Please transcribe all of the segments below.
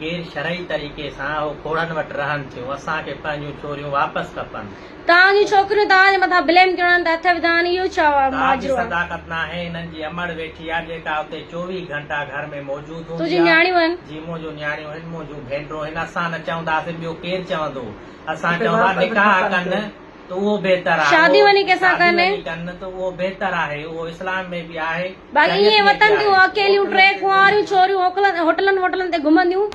غير شرعي طريقي سان اهو کوڙن وٽ رهن ٿيون اسان کي پنهنجون ڇوريون واپس کپن. توهان جون ڇوڪريون توهان جي مٿان بليم ڪيوڙن ته اٿ وڌان اهو ڇا ماجرو آهي. توهان جي صداقت ناهي انهن جي امڙ ويٺي آ جيڪا اتي چوويهه گهنٽا گهر ۾ موجود هوندي آ. تنهنجون نياڻيون هن. جي منهنجون نياڻيون هن منهنجون ڀينڊرون هن اسان نه چونداسين ٻيو ڪير چوندو اسان چوندا نڪاح ڪن ته اهو بهتر آهي. شادي وڃي ڪنهن سان ڪن. شادي وڃي ڪن ته اهو بهتر آهي. اهو اسلام ۾ به آهي. باقي ايئن وتن تيون اڪيليون ٽي ڪنواريون ڇوريون هوڪلن هوٽلن ووٽلن تي گهمنديون.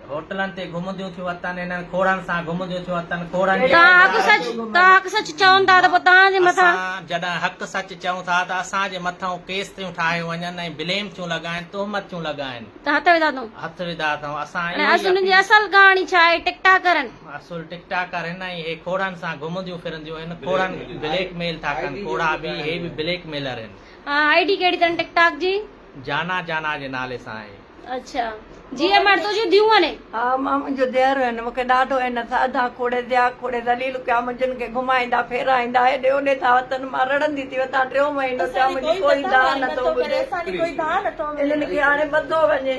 هوٽلن تي گهمنديون ٿيون وتن هنن کوڙن سان گهمنديون ٿيون وتن کوڙن جي توهان حق سچ توهان حق سچ چون ٿا ته پوء توهان جي مٿان. اسان جڏهن حق سچ چون ٿا ته اسان جي مٿئون ڪيس ٿيون ٺاهيون وڃن ۽ بليم ٿيون لڳائن تهمت ٿيون لڳائن. ته هٿ وڌا اٿئون. هٿ وڌا اٿئون اسان اهو ۽ اڄ هن جي اصل ڪهاڻي ڇا آهي ٽڪ ٽاڪرن. اصل ٽڪ ٽاڪر هن ۽ هي کوڙن سان گهمنديون فرنديون هن کوڙن بليڪ ميل ٿا ڪن کوڙا به هي به بليڪ ميلر هن. آئي ڊي ڪهڙي تن ٽڪ ٽاڪ جي. جانا جانا جي نالي سان آهي. اڇا جي اي مڙ تنهنجون ڌيون هني. ها مان منهنجو ڌيئر هن مونکي ڏاڍو هن سان اڌا کوڙي ڌيا کوڙي ذليل ڪيا منهنجن کي گهمائيندا ڦيرائيندا هيڏي هوڏي ٿا هٿن مان رڙندي ٿي وتان ٽيون مهينو ٿيا منهنجي ڪوئي دانهن نٿو ٻڌي انهن کي هاڻي ٻڌو وڃي.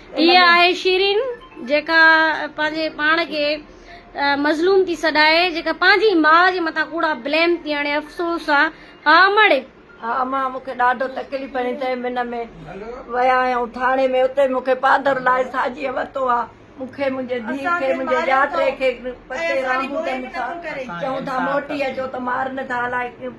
هيء آهي شيرين جيڪا پنهنجي پاڻ کي مظلوم ٿي سڏائي جيڪا پنهنجي ماء جي مٿان ڪوڙا بليم ٿي هڻي افسوس آ ها امڙ. ها امان مون کي ڏاڍو تڪليف ڏني تنهن منهن ۾ ويا آهيون ٿاڻي ۾ اتي مون کي پادر لاهي ساجيء ورتو آ مون کي منهنجي ڌيء کي منهنجي ڄاٽي کي پتي رامبوٽن سان چئون ٿا موٽي اچو ته مارن ٿا الائي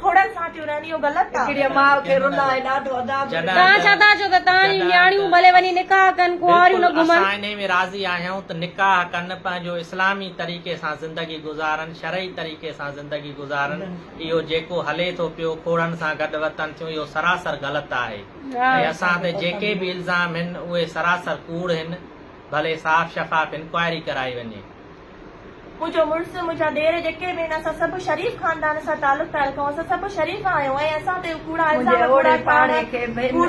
کوڙن سان ٿيون رهن اهو غلط آ. هڪڙيء ماء کي رن آهي ڏاڍو عذاب ڏنل. توهان ڇا ٿا چئو ته توهان جون نياڻيون ڀلي وڃي نڪاح ڪن ڪنواريون نه گهمن. بلڪل اسان انهي ۾ راضي آهيون ته نڪاح ڪن پنهنجو اسلامي طريقي سان زندگي گذارن شرعي طريقي سان زندگي گذارن اهو جيڪو هلي ٿو پيو کوڙن سان گڏ وتن ٿيون اهو سراسر غلط آهي ۽ اسان تي جيڪي به الزام هن اهي سراسر ڪوڙ هن ڀلي صاف شفاف انڪوائري ڪرائي وڃي. منهنجو مڙس، منهنجا ڏير جيڪي به آهن، اسان سڀ شريف خاندان سان تعلقدار رکون، اسان سڀ شريف آهيون ۽ اسان تي اهي ڪوڙا الزام ۽ ڪوڙا ٽاڻا، ڪوڙ.